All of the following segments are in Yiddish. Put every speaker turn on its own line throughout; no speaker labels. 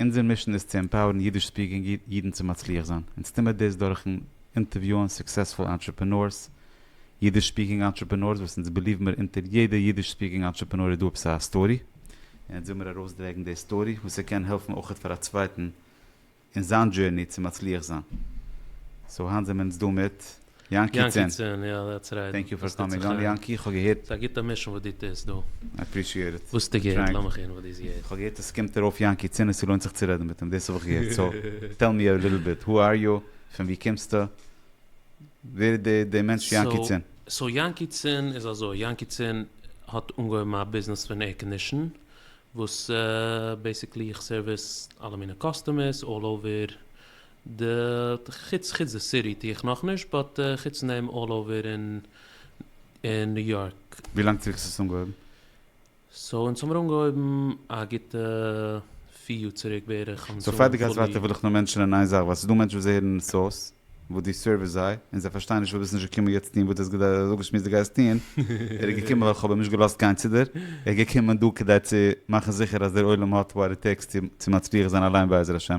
אונזער מישן איז צו עמפאוערן אידיש ספיקינג אידן צו מצליח זיין. אונז טוהן מיר דאס דורכ'ן אינטערוויוען סוקסעספול אנטרעפענארס, אידיש ספיקינג אנטרעפענארס וואס אונז בעליוון מיר אונטער יעדע אידיש ספיקינג אנטרעפענאר איז דא עפעס א סטארי, און אונז וויל מיר ארויסדרעגן די סטארי וואס ער קען העלפן אויך פאר א צווייטן אין זיין דזשערני צו מצליח זיין. סאו היינט זעמיר אונז דא מיט. יענקי צען, טענק
יו פאר קאמינג אן
יענקי, איך האב געהערט, ס'איז א גוטע מישונג וואס דו
טוסט דא, איי אפרישיעט איט,
וואס האסטו געהערט? לאמיך הערן
וואס דו האסט געהערט. איך האב געהערט אז ס'קומט ארויף
יענקי צען און ס'לוינט זיך צו רעדן מיט אים, דאס האב איך געהערט, סאו טעל מי א ליטל ביט, הו אר יו, פון ווי קומסטו, ווער איז די די מענטש יענקי צען? סאו יענקי צען
איז אזוי, יענקי צען האט אנגעהויבן א ביזנעס פון עיר קאנדישן, וואס בעיסיקלי איך סערוויס אלע מיני קאסטומערס אלל אווער די חוץ חוץ די סיטי טוה איך נאכנישט באט חוץ נעם אלל אווער אין אין ניו יארק. ווי לאנג צוריק האסטו עס
אנגעהויבן? סאו
אונז האמיר אנגעהויבן א גוטע פיר יאר צוריק בערך אונז סאו פאר די גייסט ווייטער
וויל איך נאר מענטשענען איין זאך ווייל ס'איז דא מענטשן וואס זיי הערן סאוס וואס דו סערוויסט זיי און זיי פארשטייען נישט ווייל ביסט נישט געקומען יעצט טוהן וואס דו האסט געדארפט זיי זאגן שמועס דו גייסט טוהן ער איז געקומען ווייל כ'האב אים נישט געלאזט גיין צו דיר ער איז געקומען דא כדי צו מאכן זיכער אז דער עולם האט וואט איט טעיקס צו מצליח זיין אליין בעזר השם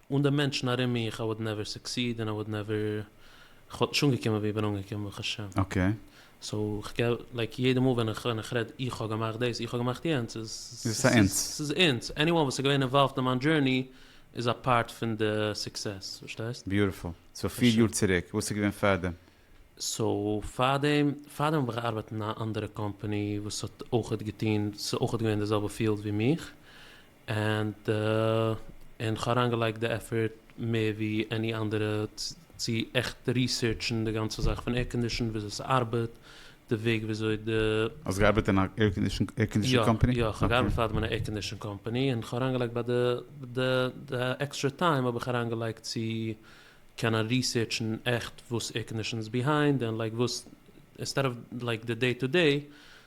אן די מענטשן ארום מיך איי וואלד נעווער סוקסיד און איי וואלד נעווער, כ'וואלט נישט אנגעקומען ווי איך בין אנגעקומען ברוך השם. אקעי. סאו
איך גיב
לייק יעדע מאל ווען איך ווען איך רעד איך האב געמאכט דאס איך האב געמאכט יענץ איז איז עס א
אונס. ס'איז אונס, עניוואן וואס איז געווען אינוואלווד
אין מיין דזשורני איז א פארט פון די סוקסעס, פארשטייסט? ביוטיפול. סאו פיר יאר
צוריק, וואס איז געווען פארדעם? סאו
פארדעם, פארדעם האב איך געארבעט אין א אנדערע קאמפאני וואס האט אויכעט געטון, ס'איז אויכעט געווען די זעלבע פיעלד ווי מיך, ענד און כ'האב אריינגעלייגט די עפערט מער ווי עני אנדערע צו עכט ריסערטשן די גאנצע זאך פון עירקאנדישן וויאזוי ס'ארבעט די וועג וויאזוי די. האסט געארבעט אין א
עירקאנדישן קאמפעני? יא יא כ'האב געארבעט פאר דעם אין
א עירקאנדישן קאמפעני און כ'האב אריינגעלייגט ביי די די די עקסטרע טיים האב איך אריינגעלייגט צו קענען ריסערטשן עכט וואס עירקאנדישן איז ביהיינד און לייק וואס אינסטעד אוו לייק די דעי טו דעי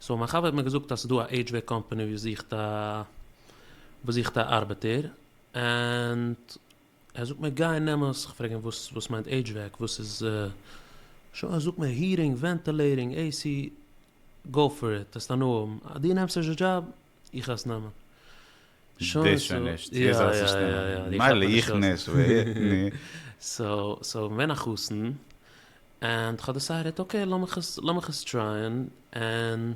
סאו מיין חבר האט מיר געזאגט אז ס'איז דא א עידזש וועק קאמפאני וואס זוכט א וואס זוכט א ארבעטער ענד ער זאגט מיר גיי נעם עס, כ'פרעג אים וואס וואס מיינט עידזש וועק וואס איז שוין ער זאגט מיר היעטינג ווענטעלעיטינג עי סי גאו פאר איט עסט הנאה האבן אז דו נעמסט עס די דזשאב איך האס
נאמען. שוין
סאו יא יא יא די קאפ האט נישט געהאלטן. סאו סאו געווען א חתן ענד כ'האב דעסיידעט אקעי לאמיך עס לאמיך עס טרייען ענד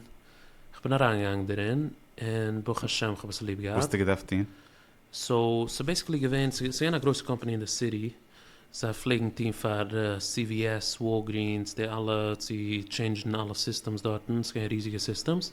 כ'בין אריינגעגאנגען דערין און ברוך השם כ'האב עס ליב געהאט. וואסטו געדארפט
טון? סאו
ס'איז בעסיקלי געווען ס'איז געווען א גרויסע קאמפאני אין די סיטי זיי פלעגן טון פאר סי ווי עס וואלגרינס די אלע צו טשעינדזשן אלע סיסטעמס דארטן ס'איז געווען ריזיגע סיסטעמס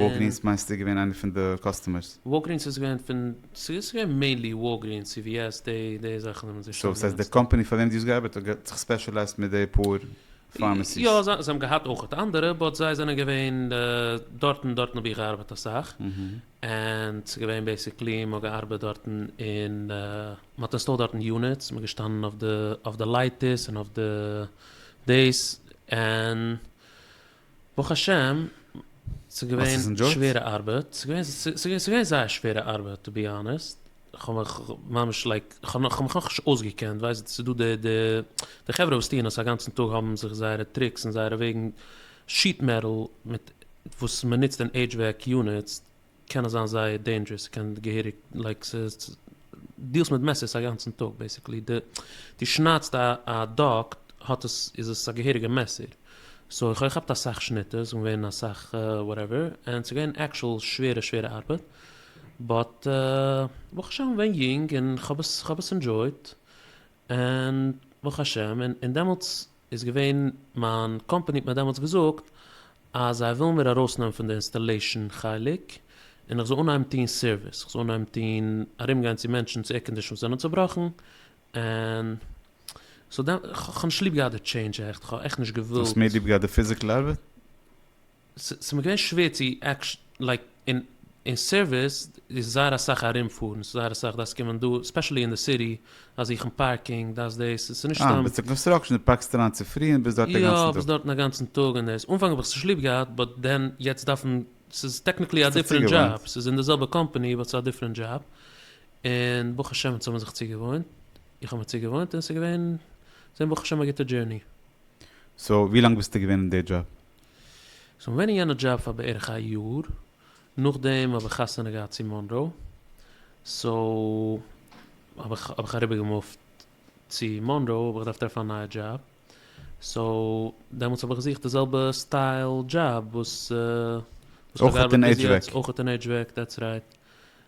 וואלגרינס
מיינסטו איז געווען איינע פון די קאסטומערס? וואלגרינס איז געווען פון,
ס'איז געווען מעינלי וואלגרינס, סי ווי עס, די זאכן האבן זיי שטארק גענוצט. סאו ס'הייסט די קאמפאני
פאר
וועם
דו האסט געארבעט האט זיך ספעשעלייזט מיט די פאר פארמעסיס? יא, זיי האבן געהאט
אויך אנדערע, באט זיי זענען געווען דארטן, דארטן האב איך געארבעט אסאך, און ס'איז געווען בעיסיקלי מען האט געארבעט דארטן און מען האט אינסטאלט דארטן יוניטס, מען געשטאנען אויף די לייטערס און אויף די דעיס, און ברוך השם, ס'איז געווען שווערע ארבעט, ס'איז געווען זייער שווערע ארבעט טו בי האנעסט, כ'האב מיך ממש לייק, כ'האב מיך נאכנישט אויסגעקענט, ווייסט ס'איז דא די די חברה וואס טוען עס א גאנצן טאג האבן זיך זייערע טריקס און זייערע וועגן, שיט מעטאל מיט וואס מ'נוצט אין עידזש וועק יוניטס, קען עס זיין זייער דעינדזשערעס ס'קען געהעריג לייק ס'איז דילסט מיט מעסערס א גאנצן טאג בעסיקלי די די שניידסט א א דאג האט עס איז עס א געהעריגע מעסער סאו איך האב געכאפט אסאך שניטערס און געווען אסאך וואטעווער און ס'איז געווען עקשול שווערע שווערע ארבעט באט ברוך השם איך בין יונג און כ'האב עס כ'האב עס ענדזשויט און ברוך השם און און דעמאלטס איז געווען מיין קאמפעני האט מיר דעמאלטס געזאגט אז זיי ווילן מיר ארויסנעמען פון די אינסטעלעישן חלק און איך זאל אנהייבן טון סערוויס איך זאל אנהייבן טון ארום גיין צו מענטשן צו עירקאנדישאנס וואס זענען צובראכן און סאו דעמ כ'האב נישט ליב געהאט די טשעינדזש עכט כ'האב עכט נישט געווילט. האסט מער ליב געהאט די פיזיקל
ארבעט?
ס'איז מיר געווען שווער צו עקשנ'ליי אין אין סערוויס איז זייער אסאך ארום פארן ס'איז זייער אסאך דארפסט קומען דא ספעשעלי אין די סיטי אז זוכן פארקינג דאס דאס ס'איז נישט סתם. אה ביסט אין קאנסטראקשען די
פארקסט אריין צופרי און ביסט דארט די גאנצן טאג. יא ביסט דארטן א גאנצן טאג
און דאס אנפאנג האב איך זיך ליב געהאט באט דען יעצט דארפן ס'איז טעקניקלי א דיפרענט דזשאב ס'איז אין די זעלבע קאמפאני באט ס'איז א דיפרענט דזשאב און ברוך השם אונז האבן זיך צוגעוואוינט איך האב מיר צוגעוואוינט און ס'איז געווען ברוך השם א גוטע דזשערני. סאו
ווי לאנג ביסטו געווען אין די דזשאב? כ'בין געווען
אין יענע דזשאב פאר בערך א יאר, נאכדעם האב איך חתונה געהאט צו מאנרא, סאו האב איך האב איך אריבערגעמופט צו מאנרא, האב איך געדארפט טרעפן א נייע דזשאב, סאו דעמאלטס האב איך געזוכט די זעלבע סטייל דזשאב וואס וואס
איך האב געארבעט ביז
יעצט, אויך אין עידזש וועק, דעטס רייט,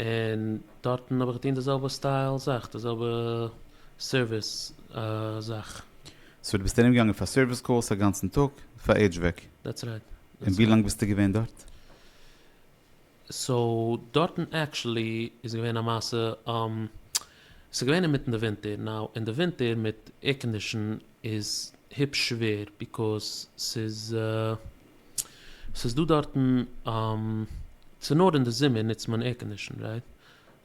און דארטן האב איך געטון די זעלבע סטייל זאך, די זעלבע סערוויס זאך. סאו דו ביסט ארום
געגאנגען פאר סערוויס קאלס א גאנצן טאג פאר עידזש וועק? דעטס רייט. און
ווי לאנג ביסטו געווען
דארט? סאו
דארטן עקשעלי איז געווען א מעשה, ס'איז געווען אינמיטן די ווינטער, נאו אין די ווינטער מיט עירקאנדישן איז היפש שווער, ביקאוז ס'איז ס'איז דא דארטן, ס'איז נאר אין די זומער נוצט מען עירקאנדישן רייט?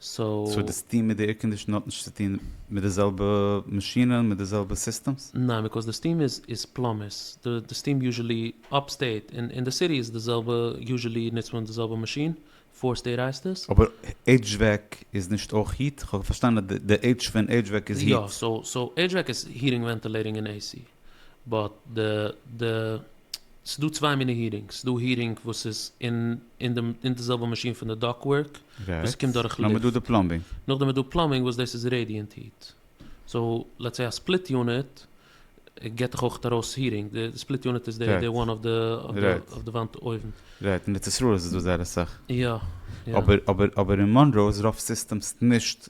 סאו די סטיעם מיט די
עירקאנדישן האט נישט צו טון מיט די זעלבע מאשינען מיט די זעלבע סיסטעמס? ניין ביקאויז די סטיעם איז
איז פלאמערס די סטיעם יוזשעלי אפסטעיט און אין די סיטי איז די זעלבע יוזשעלי נוצט מען די זעלבע מאשין פאר סטעיט הייסט עס. אבער
HVAC איז נישט אויך היט? כ'האב פארשטאנען די H פון HVAC איז היט. יא סאו סאו
HVAC איז היטינג ווענטילעיטינג און AC. באט די די ס'איז דא צוויי מיני הירינגס, ס'איז דא הירינג וואס איז אין אין דעם אין די זעלבע מאשין פון די דאק ווארק וואס ס'קומט דורך לופט,
נאכדעם איז דא פלאמבינג
וואס דאס איז רעדיענט היט, סאו לעטס סעי א ספליט יוניט גיבט דיך אויך ארויס הירינג, די ספליט יוניט איז די די וואן אויף די אויף די וואנט אויבן. רייט, אין ארץ ישראל
איז עס דא זייער אסאך. יא יא.
אבער אבער
אבער אין מאנרא איז רוב סיסטעמס נישט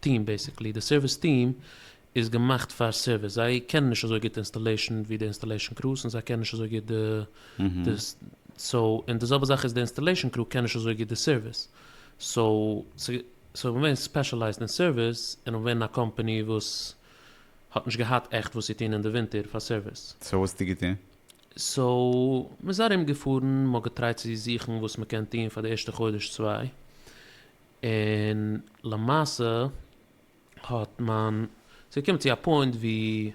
טיעם בעסיקלי, די סערוויס טיעם איז געמאכט פאר סערוויס, זיי קענען נישט אזוי גוט אינסטאלעישן ווי די אינסטאלעישן קרוס און זיי קענען נישט אזוי גוט די די סאו און די זעלבע זאך איז די אינסטאלעישן קרו קען נישט אזוי גוט די סערוויס סאו ס'איז געווען ספעשעלייזד אין סערוויס און און ווען א קאמפעני וואס האט נישט געהאט עכט וואס צו טוהן אין די ווינטער פאר סערוויס. סאו וואס האסטו געטוהן?
סאו
מ'איז ארום געפארן מ'האט געטרייט צו זוכן וואס מ'קען טוהן פאר די ערשטע חודש צוויי און למעשה האט מיין, ס'איז געקומען צו א פוינט ווי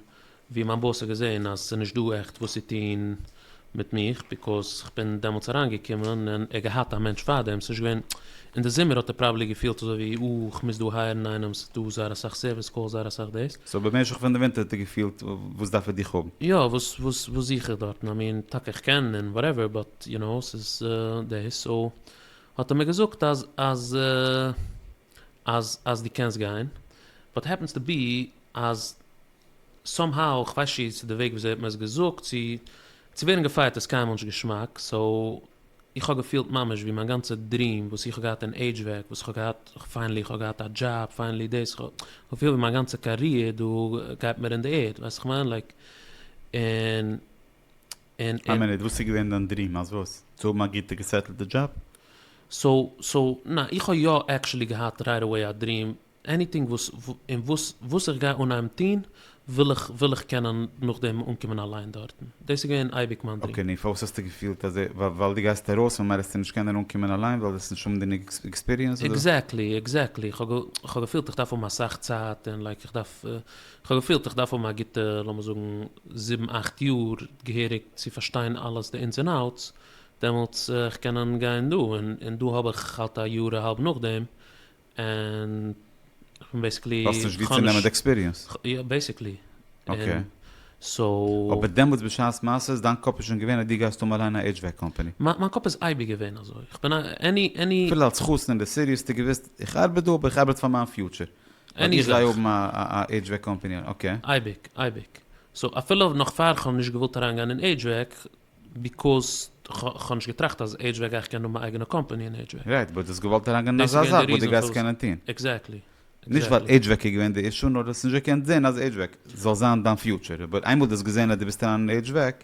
ווי מיין באס האט געזען אז ס'איז נישט דא עכט וואס צו טון מיט מיך ביקאוז כ'בין דעמאלטס אריינגעקומען און ער געהאט א מענטש פארדעם, ס'איז נישט געווען, אין די זומער האט ער פראבעלי געפילט אזוי ווי אה כ'מוז דא הייערן איינעם ס'איז דא זייער אסאך סערוויס קאלס זייער אסאך דאס. סאו במשך פון די ווינטער
האט ער געפילט וואס דארף ער דיך האבן? יא וואס וואס וואס
זוך איך דארטן, איי מין טאקע כ'קען און וואטעווער באט יו נאו ס'איז דאס סאו האט ער מיר געזאגט אז אז אז אז דו קענסט גיין, באט העפענס טו בי אז סאם האו, איך ווייס נישט צו ס'איז די וועג וויאזוי ער האט מיר עס געזאגט, צו צו ווערן געפייערט איז קיינמאל נישט געשמאק, סאו איך האב געפילט ממש ווי מיין גאנצע דריעם וואס איך האב געהאט אין עידזש וועג, וואס איך האב געהאט, פיינעלי איך האב געהאט א דזשאב, פיינעלי דאס, איך האב געפילט ווי מיין גאנצע קאריער דא גייט מיר אין די ערד, ווייסט וואס איך מיין, לייק, און
און און. איין מינוט, וואס איז געווען דיין דריעם? אז וואס? צו האבן א גוטע געסעטלטע דזשאב? סאו
סאו נע איך האב יא עקשעלי געהאט רייט עוועי א דריעם, עניטינג וואס און וואס וואס איך גיי אנהייבן טוהן וויל איך וויל איך קענען נאכדעם אנקומען אליין דארטן, דאס איז געווען אייביג מיין דריעם. אקעי נו פארוואס האסטו געפילט
אז ווייל דו גייסט ארויס פון אמער העסטו נישט קענען אנקומען אליין ווייל וועסט נישט האבן גענוג עקספיריענס אדער? עקזעקטלי עקזעקטלי
איך האב איך האב געפילט איך דארף האבן אסאך צייט און לייק איך דארף כ'האב געפילט איך דארף האבן א גוטע לאמיר זאגן זיבן אכט יאר געהעריג צו פארשטיין אלעס די אינס און אוטס דעמאלטס איך קענען גיין דא און און דא האב איך האלט א יאר אהאלב נאכדעם און כ'בין בעסיקלי האסט נישט ווי צו נעמען
די עקספיריענס? יא בעסיקלי
און
אקעי סאו.
אבער דעמאלטס בשעת
מעשה איז דיין קאפ איז שוין געווען אז דו גייסט האבן אליין א HVAC קאמפעני? מיין קאפ איז אייביג
געווען אזוי, כ'בין א עני עני. אפילו אלס חתן אין די
סיטי האסטו געוואוסט איך ארבעט דא אבער איך ארבעט פאר מיין פיוטשער. עני זאך. איך גיי האבן א HVAC קאמפעני, אקעי. אייביג, אייביג.
סאו אפילו נאך פאר כ'האב נישט געוואלט אריינגיין אין HVAC, ביקאז כ'האב נישט געטראכט אז HVAC גיי איך קענען האבן מיין אייגענע קאמפעני אין HVAC. רייט, באט דו האסט געוואלט אריינגיין
אין אזא זאך וואס דו גייסט קענען
טון. עקזעקטלי. נישט ווייל
HVAC איז געווען די אישו, נאר דו האסט נישט געקענט זען אז HVAC זאל זיין דיין פיוטשער. אבער איינמאל דו האסט געזען אז דו ווילסט אריין אין HVAC.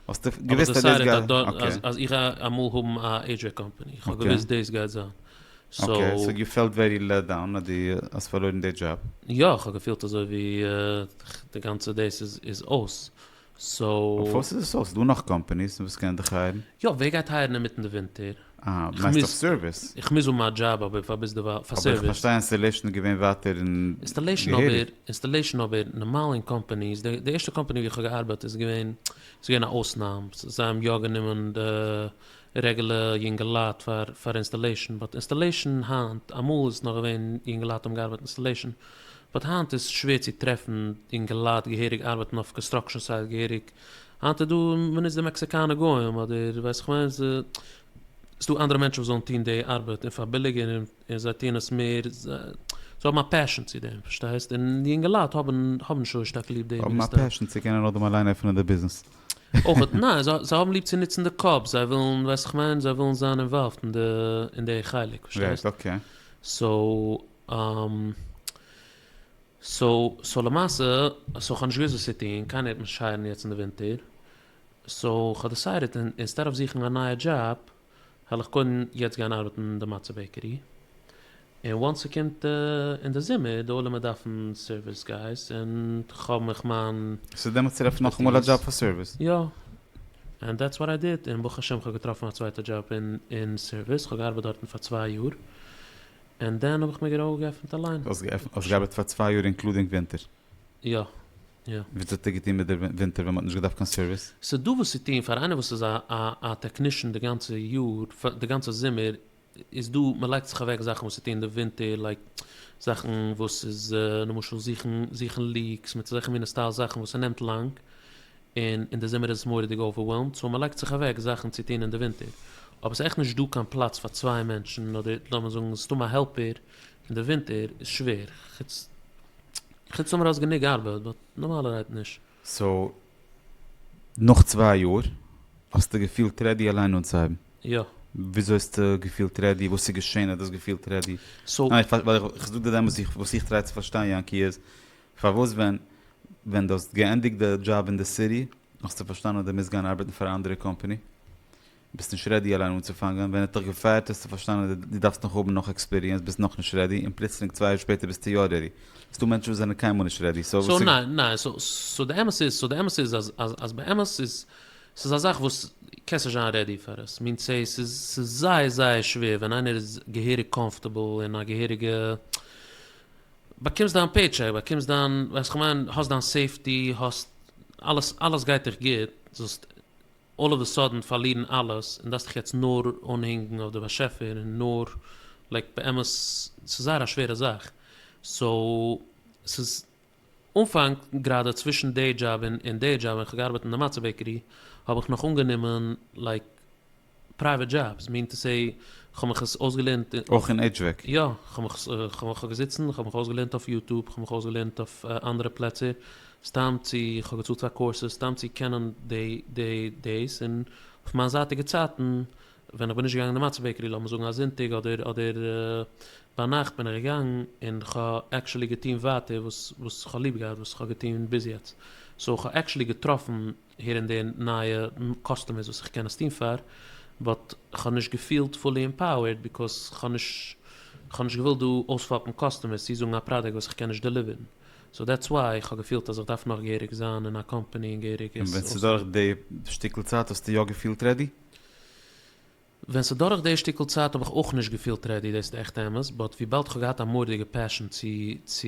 האסטו געוויסט אז דאס גייט זיין? אבער דיסיידעד אז איך גיי אמאל
האבן א עידזשעי קאמפעני, איך האב געוויסט דאס גייט זיין. אקעי, סאו
יו פעלט ווערי לעט דאון אז דו האסט פארלוירן די דזשאב? יא, איך האב געפילט אזוי
ווי די גאנצע דאס איז אויס, סאו. אויף וואס איז עס אויס? ס'דא
נאך קאמפעניס וואס קענען דיך הייערן? יא, ווער גייט הייערן
אינמיטן די ווינטער? מיינסט אויף
סערוויס? איך מוז האבן מיין דזשאב
אבער פאר ביזדערווייל פאר סערוויס. אבער איך פארשטיי אינסטעלעישן
איז
געווען
ווייטער און געהעריג.
אינסטעלעישן אבער נארמאל אין קאמפעניס, די ערשטע קאמפעני ווי איך האב געארבייט איז געווען ס'איז געווען א אויסנאם, זיי האבן יא גענומען די רעגולע יונגעלייט פאר פאר אינסטעלעישן, באט אינסטעלעישן היינט, אמאל איז נאך געווען יונגעלייט האבן געארבייט אינסטעלעישן, באט היינט איז שווער צו טרעפן יונגעלייט געהעריג ארבייטן אויף קאנסטראקשן סייט געהעריג היינט איז דא מען נוצט די מעקסיקאנע גוים אדער ווייס איך וועם ס'איז דא אנדערע מענטשן וואס זאלן טון די ארבעט און פאר ביליגער און זיי טוען עס מער זיי האבן א פעשן צו דעם פארשטייסט און די אינגעלייט האבן האבן נישט אזוי שטארק ליב די האבן א פעשן צו קענען אדעם
אליין עפענען די ביזנעס. אויכעט
ניין זיי האבן ליב צו נוצן די קאפ זיי ווילן ווייס איך וועם זיי ווילן זיין אינוואלווד אין די אין די חלק
פארשטייסט
סאו. סאו סאו למעשה סאו כ'האב נישט געוויסט וואס צו טון, קיינער העט מיך נישט הייערן יעצט אין די ווינטער, סאו כ'האב דעסיידעט אינסטעד אוו זוכן א נייע דזשאב העל איך קודם יעצט גיין ארבעטן אין די מצה בעקערי, און וואנס ס'קומט אין די זומער די עולמ'עט דארפן סערוויס גייס און כ'האב מיך מיין. סאו דעמאלטס טרעף איך
נאכאמאל א דזשאב פאר סערוויס? יא,
ענד דעטס וואט איי דיד, און ברוך השם כ'האב געטראפן א צווייטע דזשאב אין סערוויס, כ'האב געארבעט דארטן פאר צוויי יאר, און דאן האב איך מיר גענוי געפענט אליין. האסט געפענט האסט געארבעט פאר
צוויי יאר אינקלודינג ווינטער? יא
יא. וויאזוי
האט ער געטון מיט די ווינטער ווען מען האט נישט געדארפט קיין סערוויס? ס'איז דא וואס צו טון
פאר איינער וואס איז א א א טעקנישן די גאנצע יאר פ די גאנצע זומער איז דא מ'לייגט זיך אוועק זאכן וואס צו טון די ווינטער לייק זאכן וואס איז למשל זוכן זוכן ליקס מיט אזעלכע מינע סטייל זאכן וואס ס'נעמט לאנג און אין די זומער איז עס מורא'דיג אווערוועלמד סאו מען לייגט זיך אוועק זאכן צו טון אין די ווינטער, אבער ס'איז עכט נישט דא קיין פלאץ פאר צוויי מענטשן אדער לאמיר זאגן סתם א העלפער אין די ווינטער איז שווער, חוץ חוץ טאמער האסט גענוג ארבעט, באט נארמאלערהייט נישט. סאו
נאך צוויי יאר האסטו געפילט רעדי אליין אנצוהייבן? יא. וויאזוי
האסטו
געפילט רעדי? וואס איז געשען אז דו האסט געפילט רעדי? סאו. ניין, איך
זאג
דיר דעמאלטס וואס איך טריי צו פארשטיין יענקי איז, פארוואס ווען ווען דו האסט געענדיגט די דזשאב אין די סיטי האסטו פארשטאנען אז דו מוזט גיין ארבעטן פאר א אנדערע קאמפאני? ביסט נישט רעדי אליין אנצופאנגען, ווען ער האט דיך געפייערט האסטו פארשטאנען אז דו דארפסט נאך האבן נאך עקספיריענס ביסט נאכנישט רעדי און פלוצלינג צוויי יאר שפעטער ביסטו יא רעדי. ס'דא מענטשן וואס זענען קיינמאל נישט רעדי סא וואס איז.
סא די אמת איז סא די אמת איז אז אז באמת איז ס'איז א זאך וואס קענסט נישט זיין רעדי פאר עס מינט סאיז ס'איז זייער זייער שווער ווען איינער איז געהעריג קאמפארטעבל אין א געהעריגע באקומסט דיין פעי טשעק, באקומסט דיין, ווייסט כ'מיין, האסט דיין סעיפטי, האסט אלעס, אלעס גייט דיך גוט, זאלסט אלל אוו די סאדען פארלירן אלעס, און דארפסט דיך יעצט נאר אנהינגן אויף די באשעפער און נאר, לייק באמת, ס'איז זייער א שווערע זאך, סאו, ס'איז אנפאנג גראדע צווישן דעי דזשאב און און דעי דזשאב ווען כ'האב געארבעט אין די מצה בעקערי האב איך נאך אנגענומען לייק פרייוועט דזשאבס מין טו סעי כ'האב מיך עס אויסגעלערנט אין אויך אין HVAC? יא
כ'האב מיך
כ'האב געזיצן כ'האב מיך אויסגעלערנט אויף יוטוב כ'האב מיך אויסגעלערנט אויף אנדערע פלעצער סתם צו כ'האב געצאלט פאר קאורסעס סתם צו קענען דעי דעי דעיס און אויף מיין זייטיגע צייטן ווען איך בין נישט געגאנגען אין די מצה בעקערי לאמיר זאגן א זונטאג אדער אדער ביינאכט בין איך געגאנגען און איך האב עקשעלי געטון ווייטער וואס וואס איך האב ליב געהאט וואס איך האב געטון ביז יעצט סאו איך האב עקשעלי געטראפן הער און דער נייע קאסטומערס וואס איך קען עס טון פאר באט איך האב נישט געפילט פולי אימפאוערד ביקאוז איך האב נישט איך האב נישט געוואלט דא אויספאפן קאסטומערס צו זאגן א פראדוקט וואס איך קען נישט דעליווערן סאו דעטס וויי איך האב געפילט אז איך דארף נאך געהעריג זיין אין א קאמפאני און געהעריג עס אויספאפן. און ווען ס'איז דורך די
שטיקל צייט האסטו יא געפילט רעדי? ווען
ס'דורך די שטיקל צייט האב איך אויך נישט געפילט רעדי, דאס איז עכט אמת, באט וויבאלד כ'האב געהאט א מורא'דיגע פעשן צו צו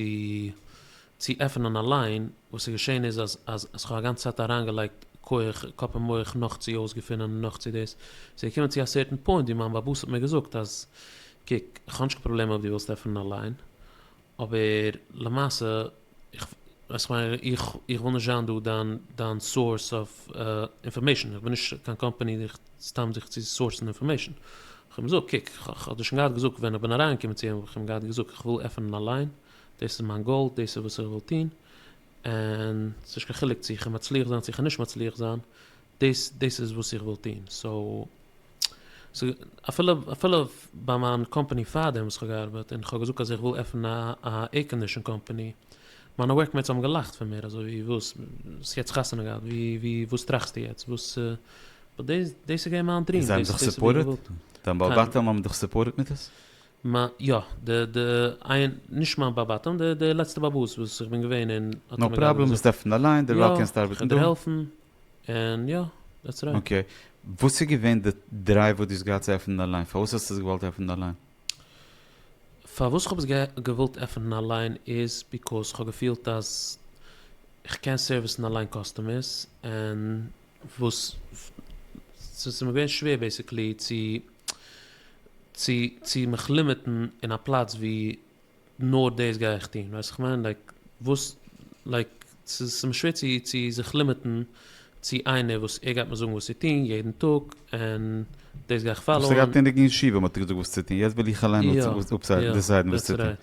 צו עפענען א ליין, וואס איז געשען איז אז אז אז כ'האב א גאנצע צייט אריינגעלייגט כח, קאפ און מח נאך צו אויסגעפינען און נאך צו דאס, ס'איז געקומען צו א סערטען פוינט ווי מיין באבוס האט מיר געזאגט אז קוק, כ'האב נישט קיין פראבלעם אויב דו ווילסט עפענען א ליין, אבער למעשה איך איך מיין איך איך וויל נישט זיין דא דיין דיין סאורס אויף אינפארמעישן איך בין נישט קיין קאמפאני דיך סתם זיך צו סאורסן אינפארמעישן כ'האב געזאגט קוק איך האב דיר שוין געהאט געזאגט ווען איך בין אריין געקומען צו אים האב איך אים געהאט געזאגט איך וויל עפענען א ליין דאס איז מיין גאול דאס איז וואס איך וויל טון און ס'נישט קיין חילוק צו איך וועל מצליח זיין צו איך וועל נישט מצליח זיין דאס דאס איז וואס איך וויל טון סאו אפילו אפילו ביי מיין קאמפאני פארדעם וואס איך האב געארבעט און איך האב געזאגט אז איך וויל עפענען א עירקאנדישאן קאמפאני, מיינע ווארק מעיטס האבן געלאכט פון מיר אזוי ווי וואס, האסט יעצט חתונה געהאט ווי ווי וואס טראכסטו יעצט וואס, באט דעיס דעיס איז געווען מיין דריעם זיי האבן דיך סופארטעד?
דיין בעל בתים האבן דיך סופארטעד מיט עס? מיין יא
די די איין נישט מיין בעל בתים די די לעצטע בעל הבית וואס איך בין געווען און האט ער מיר געהאלפן. נאו פראבלעם, ביסט
עפן אליין, דערווייל קענסטו ארבעטן דא. יא, איך וועל דיר העלפן.
און יא, דעטס רייט. אקעי. וואס איז
געווען די דרייוו וואס דו האסט געהאט צו עפענען אליין? פארוואס האסטו עס געוואלט עפענען אליין?
פארוואס כ'האב עס געוואלט עפענען אליין איז ביקאוז כ'האב געפילט אז כ'קען סערוויסן אליין קאסטומערס און וואס ס'איז מיר געווען שווער בעיסיקלי צו צו צו מיך לימיטן אין א פלאץ וואו נאר דאס גיי איך טון, ווייסט איך מיין לייק וואס לייק ס'איז מיר שווער צו צו זיך לימיטן צו איינער וואס ער גייט מיר זאגן וואס צו טון יעדן טאג און דאס גיי איך פאלאון. האסט געהאט אינדיגן ישיבה מ'האט
דיר געזאגט וואס צו טון יעצט וויל איך אליין דיסיידן וואס צו טון,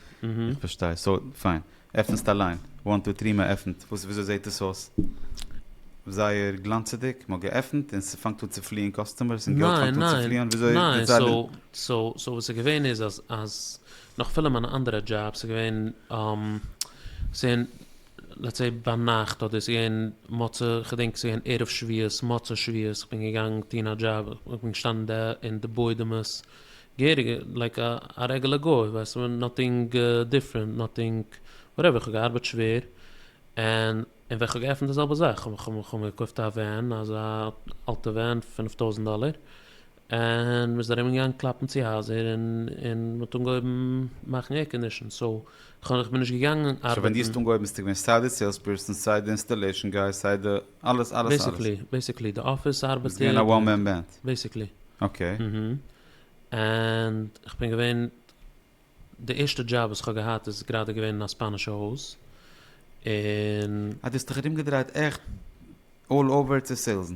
איך פארשטיי סאו פיין עפנסט אליין וואן טו טרי מ'עפנט וואס וויאזוי זעט עס אויס זייער גלאנצעדיג מ'האט געעפנט און ס'פאנגט אן צו פליען קאסטומערס און געלט פאנגט אן
צו פליען וויאזוי די צייט. ניין ניין סאו סאו סאו וואס איז געווען איז אז אז נאך פילע מיינע אנדערע דזשאבס איז געווען ס'איז געווען לעטס סעי ביינאכט אדער ס'איז געווען מוצא כ'דענק ס'איז געווען ערב שביעות מוצא שביעות כ'בין געגאנגען טון א דזשאב כ'בין געשטאנען דער אין די בוידעמעס געהעריג לייק א רעגעלע גוי ווייסט נאטינג דיפרענט נאטינג וואטעווער כ'האב געארבעט שווער ענד און ווען כ'האב געעפנט די זעלבע זאך כ'האב מיר געקויפט א ווען אזא אלטע ווען פֿינף טויזנט דאלער און מ'איז ארום געגאנגען קלאפן צו הייזער און און מ'האט אנגעהויבן מאכן עיר קאנדישן סאו איך בין נישט געגאנגען ארבעטן. סאו ווען דו האסט אנגעהויבן ביסטו געווען
סיי די סעילס פערסאן סיי די אינסטאלעישן גאי סיי די אלעס אלעס אלעס. בעיסיקלי
די אפיס ארבעטער. ביסט געווען א וואן מען
בענד. בעיסיקלי. אקעי. און
כ'בין געווען די ערשטע דזשאב וואס כ'האב געהאט איז גראדע געווען אין א ספאנישע הויז און. אז דו האסט דיך
ארומגעדרייט עכט אלל אווער צו סעילסן.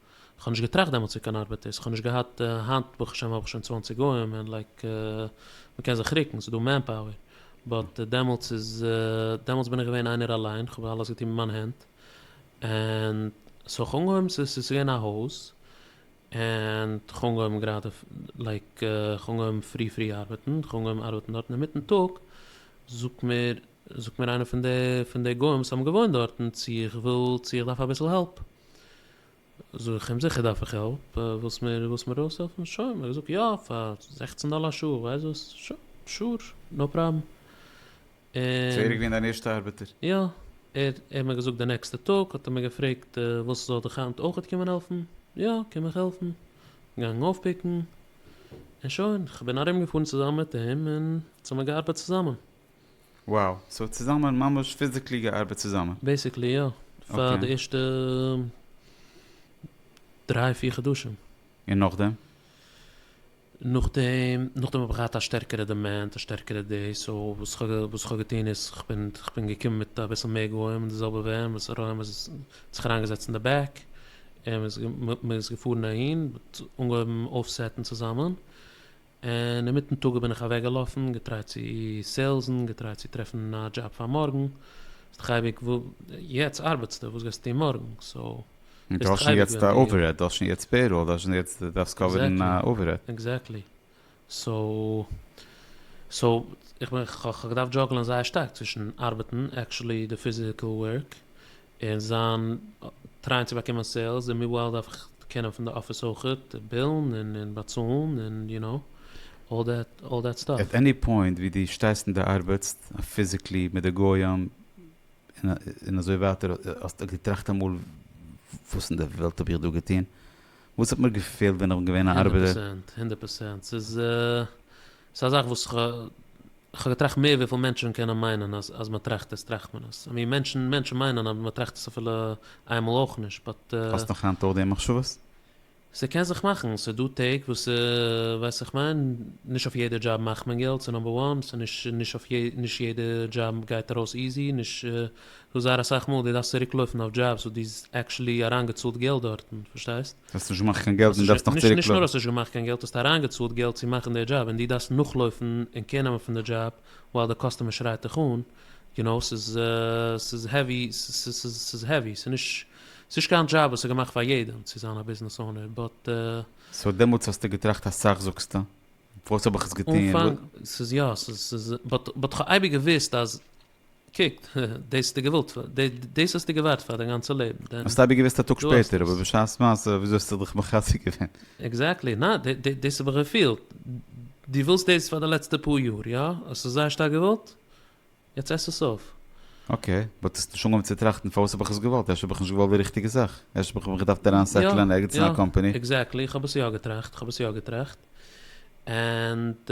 כ'האב
נישט געטראכט דעמאלטס ווי קיין ארבעט איז, כ'האב נישט געהאט, היינט ברוך השם האב איך שוין צוואַנציק גוים און לייק מ'קען זיך רוקן, ס'איז דא מענפאוער, באט דעמאלטס איז, דעמאלטס בין איך געווען איינער אליין, כ'האב אלעס געטון מיט מיין הענט, און סאו כ'האב אנגעהויבן, ס'איז ס'איז געווען א הויז, און כ'האב אנגעהויבן גראדע לייק כ'האב אנגעהויבן פרי פרי ארבעטן, כ'האב אנגעהויבן ארבעטן דארטן און מיטן טאג זאגט מיר זאגט מיר איינער פון די גוים וואס האבן געוואוינט דארטן צו איך וויל צו איך דארף אביסל העלפ, זאג איך אים זיכער דארף איך העלפ, ווילסט מיר ווילסט מיר אויסהעלפן שוין, האט ער געזאגט יא פאר זעכצן דאלער א שעה, איך ווייס וואס, שוין שור נאו פראבלעם, און.
צוריק ווי אין דיין ערשטע ארבעטער. יא, ער ער
האט מיר געזאגט די נעקסטע טאג האט ער מיר געפרעגט ווילסט זאל דיך היינט אויכעט קומען העלפן, יא קום איך העלפן, געגאנגען אויפפיקן, און שוין, איך בין ארומגעפארן צוזאמען מיט אים און אונז האמיר געארבעט צוזאמען. וואו!
סאו צוזאמען ממש פיזיקלי געארבעט צוזאמען? בעסיקלי יא,
פאר די ערשטע דריי פיר חדשים. און נאכדעם?
נאכדעם
נאכדעם האב איך געהאט א שטערקערע דימענד א שטערקערע דעיס סאו וואס כ'האב וואס כ'האב געטון איז כ'בין געקומען מיט אביסל מער גוים און די זעלבע ווען וואס ר' אהרן איז האט זיך אריינגעזעצט אין די בעק און מ'איז געפארן אהין אנגעהויבן אויפסעטן צוזאמען און אינמיטן טאג בין איך אוועקגעלאפן, געטרייט צו סעילסן, געטרייט צו טרעפן א דזשאב פאר מארגן, ביסט דאך אייביג יעצט ארבעטסטו, וואס גייסטו טון מארגן? סאו ביסט דאך אייביג ווען דו. דו האסט שוין יעצט
א אווערהעד, דו האסט שוין יעצט פעיראל, דו האסט שוין יעצט, דו דארפסט קאווערן א אווערהעד. עקזעקטלי.
סאו, סאו, איך בין, כ'האב געדארפט דזשאגלען זייער שטארק צווישן ארבעטן, עקטשועלי די פיזיקעל ווארק, און זיין טרייען צו באקומען סעילס און מיוואל דארף איך קענען פון די אפיס אויכעט בילן און באצאלן און יו נאו אלל דעט אלל דעט סטאף. עט עני פוינט ווי דו
שטייסט און דו ארבעטסט פיזיקלי מיט די גוים און אזוי ווייטער האסטו געטראכט אמאל וואס אין די וועלט האב איך דא געטון? וואס האט מיר געפעלט ווען איך בין געווען א ארבעטער? הונדערט
פראצענט הונדערט פראצענט ס'איז ס'איז א זאך וואס כ'האב געטראכט מער וויפיל מענטשן קענען מיינען אז אז מ'טראכט עס טראכט מען עס. עמי מענטשן מענטשן מיינען אז מ'טראכט עס אפילו איינמאל אויך נישט באט. האסט נאך היינט אויך די
מחשבות? ס'קען זיך
מאכן, ס'איז דא טעג וואס ס'איז ווייסט איך מיין, נישט אויף יעדע דזשאב מאכט מען געלט ס'איז נאמבער וואן, ס'איז נישט נישט אויף יעדע נישט יעדע דזשאב גייט ארויס איזי, נישט ס'איז דא זייער אסאך מאל דו דארפסט צוריק לויפן אויף דזשאבס וואס דו האסט עקשעלי אריינגעצאלט געלט דארטן, פארשטייסט? האסט נישט געמאכט קיין געלט
און דארפסט נאך צוריק. נישט נאר האסט נישט געמאכט קיין
געלט, האסט אריינגעצאלט געלט צו מאכן די דזשאב און דו דארפסט נאכלויפן און קער נעמען פון די דזשאב ווייל די קאסטומער שרייט דיך אן, יו נאו, ס'איז ס'איז העווי, ס'איז העווי, ס'איז נישט, ס'איז נישט קיין דזשאב וואס איז געמאכט פאר יעדעם צו זיין א ביזנעס אונער, באט. סאו דעמאלטס
האסטו געטראכט אסאך זאגסטו, פארוואס האב איך עס געטון? אנפאנג, ס'איז יא,
ס'איז, באט כ'האב אייביג געוואוסט אז קוק, דאס האסטו געוואלט פאר, דאס האסטו געווארט פאר דיין גאנצע לעבן, דען. האסט אבי געוואוסט א טאג
שפעטער, אבער בשעת מעשה וויאזוי האסטו דיך מחזק געווען? עקזעקטלי, נא, דאס האב
איך געפילט, דו ווילסט דאס פאר די לעצטע פאר יאר, יא? האסט עס זייער שטארק געוואלט? יעצט עס עס אויף. אקעי, באט
האסט נישט אנגעהויבן צו טראכטן פארוואס האב איך עס געוואלט? אפשר האב איך נישט געוואלט די ריכטיגע זאך? אפשר האב איך מיך געדארפט אריין סעטלען ערגעץ אין א קאמפאני? יא, יא, עקזעקטלי, איך האב עס יא
געטראכט, איך האב עס יא געטראכט, ענד.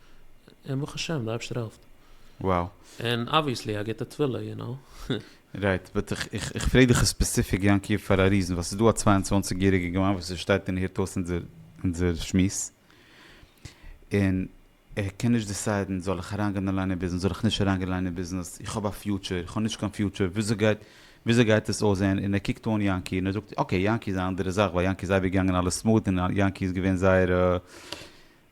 און ברוך השם די אייבשטער העלפט. וואו.
און אבוויעסלי
א גוטע תפילה יו נאו. רייט, באט
איך איך פרעג דיך ספעסיפיק יענקי פאר א ריזען, ווייל ס'איז דא א צוויי און צוואַנציק יעריגע גמ' וואס ער שטייט און הערט אויס אונזער אונזער שמועס, און ער קען נישט דיסיידען זאל איך אריינגיין און ליינען ביזנעס זאל איך נישט אריינגיין ליינען ביזנעס, איך האב א פיוטשער, איך האב נישט קיין פיוטשער, וויאזוי גייט וויאזוי גייט עס אויסזעהן, און ער קוקט אן יענקי און ער זאגט אקעי יענקי איז א אנדערע זאך ווייל יענקי איז אייביג געגאנגען אלעס סמארט און יענקי איז געווען זייער.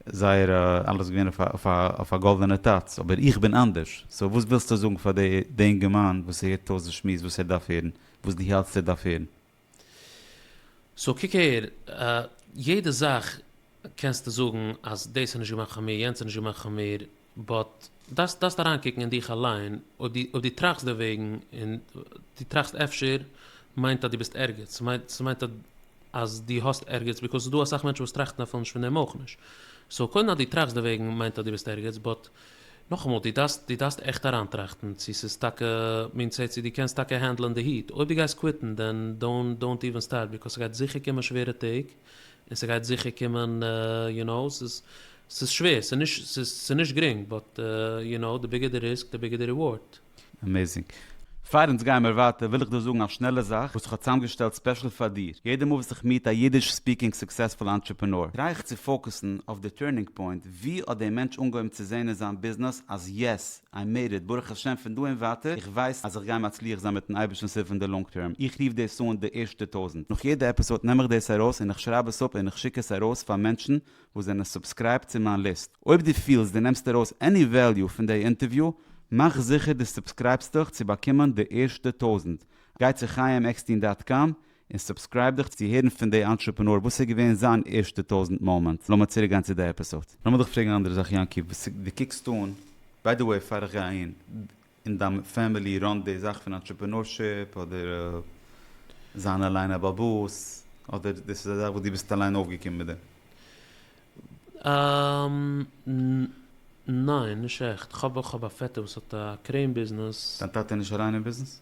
זייער אלעס געווען אויף א גאלדענע טאץ, אבער איך בין אנדערש, סאו וואס ווילסטו זאגן פאר די די אינגערמאן וואס ער הערט אויס די שמועס וואס ער דארף הערן, וואס דו האלטסט ער דארף הערן?
סאו קוק אהער, יעדע זאך קענסטו זאגן אז דאס איז נישט געמאכט פאר מיר, יענץ איז נישט געמאכט פאר מיר, באט דארפסט דארפסט אריינקוקן אין דיך אליין, אויב אויב דו טראכסט דערוועגן און דו טראכסט אפשר מיינט אז דו ביסט ערגעץ, ס'מיינט ס'מיינט אז אז דו האסט ערגעץ, ביקאויז ס'איז דא אסאך מענטשן וואס טראכטן אפילו נישט פון דעם אויך נישט, סאו קודם אז דו טראכסט דערוועגן מיינט אז דו ביסט ערגעץ, באט נאכאמאל דו דארפסט דו דארפסט עכט אריינטראכטן צו ס'איז טאקע מין צער צו דו קענסט טאקע הענדלען די היט, אויב דו גייסט קוויטן דען דאונט דאונט איווען סטארט ביקאויז ס'גייט זיכער קומען שווערע טעג, און ס'גייט זיכער קומען יו נאו, ס'איז ס'איז שווער, ס'איז נישט ס'איז נישט גרינג, באט יו נאו די ביגער די ריסק די ביגער די ריווארד. עמעזינג.
פאר אונז גייען מיר ווייטער וויל איך דא זאגן א שנעלע זאך וואס איך האב צוזאמגעשטעלט ספעשל פאר דיר, יעדע מאל וואס איך מיעט א אידיש ספיקינג סוקסעספול אנטרעפענאר טריי איך צו פאוקעסן אויף די טורנינג פוינט, ווי האט דער מענטש אנגעהויבן צו זעהן אין זיין ביזנעס אז יעס, איי מעיד איט, ברוך השם פון דא און ווייטער איך ווייס אז איך גיי מצליח זיין מיטן אייבערשטנ'ס הילף אין די לאנג טערם, איך רוף דאס אן די ערשטע טויזנט, נאך יעדע עפיסאד נעם איך דאס ארויס און איך שרייב עס אפ און איך שיק עס ארויס פאר מענטשן וואס זענען סובסקרייבט צו מיין ליסט, אויב דו פילסט דו נעמסט ארויס עני וועליו פון דעי אינטערוויו מאך זיכער דו סובסקרייבסט דיך צו באקומען די ערשטע טויזנט, גיי צו חיים עקסטין דאט קאם און סובסקרייב דיך צו הערן פון די אנטרעפענאר וואס איז געווען זיין ערשטע טויזענט מאמענט. לאמיר צוריק גיין צו די עפיסאד. לאמיר דיך פרעגן אן אנדערע זאך יענקי, וואס די קוקסט אן, ביי די וועי פאר איך גיי אהין, אין דיין פעמילי ראנט די זאך פון אנטרעפענארשיפ אדער זיין אליין א בעל באס, אדער דאס איז א זאך וואס דו ביסט אליין אויפגעקומען מיט דעם? אמממ ניין נישט עכט, כ'האב
איך האב א פעטער וואס האט א קרעין ביזנעס. דיין טאטע איז נישט אליין אין
ביזנעס?